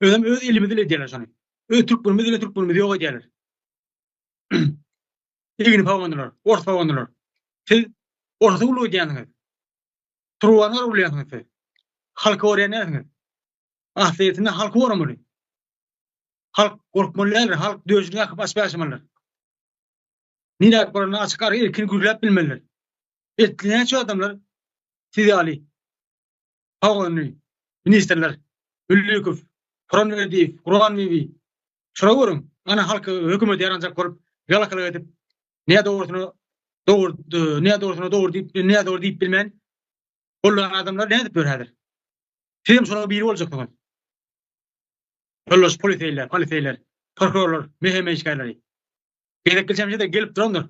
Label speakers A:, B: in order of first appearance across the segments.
A: Özem öz elimiz ile edýärler şony. Öz türkmenimiz ile türkmenimiz ýok edýärler. Egini pawandylar, ors pawandylar. Siz orsa uly edýäniňiz. Turwanlar uly edýäniňiz siz. Halky orýanyňyz. Asliyetinde halky oramaly. Halk gorkmaly däldir, halk döşüni akyp açyp ýaşamalydyr. Nirä baranda açyk ara erkin gürläp bilmelidir. Etli näçe adamlar siz ýaly Howany, ministrler Hüllikow, Kuranberdiýew, Kuranbebi, şulara görüň, ana halky hökümete ýaranjak bolup, ýalakalyk edip, nä dogrusyna dogry, nä dogrusyna dogry diýip, nä dogry diýip bilmän, gollaýan adamlar nädip ýör häzir? Siz hem şolaryň biri boljaksyňyz. Ýoldaş poliseýler, poliseýler, prokurorlar, meheme işgärleri. Gezek geçen gelip durandyr.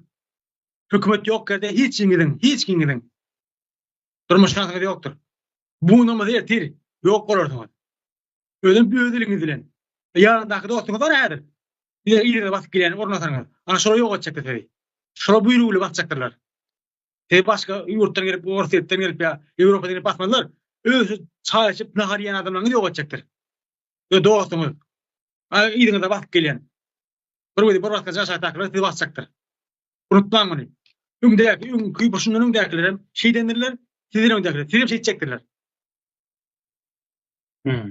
A: Hökümet ýok ýerde hiç kimiň, hiç kimiň. Durmuş şansyňyz ýokdur. Bunuňyzy ertir ýok bolarsyňyz. Özüm öz eliňiz bilen. Ýanyndaky dostuňyz bar häzir. Diňe ýerine basyp gelen ornasaňyz, ana şolar ýok etjekler sizi. Şolar buýrugy bilen basjakdyrlar. Siz başga ýurtdan gelip, Orsýetden gelip ýa Ýewropadan gelip basmazlar. Öz çaý içip, nahar ýen adamlaryňyz ýok etjekdir. Öz dostuňyz. Ýeriňize basyp gelen. Bir weli bir wagtda jaşakdakylar sizi basjakdyr. Unutmaň muny. Öňdäki, öňki, bu şundan öňdäkiler hem şeýdendirler, sizden öňdäkiler, siz hem şeýtjekdirler. Hmm.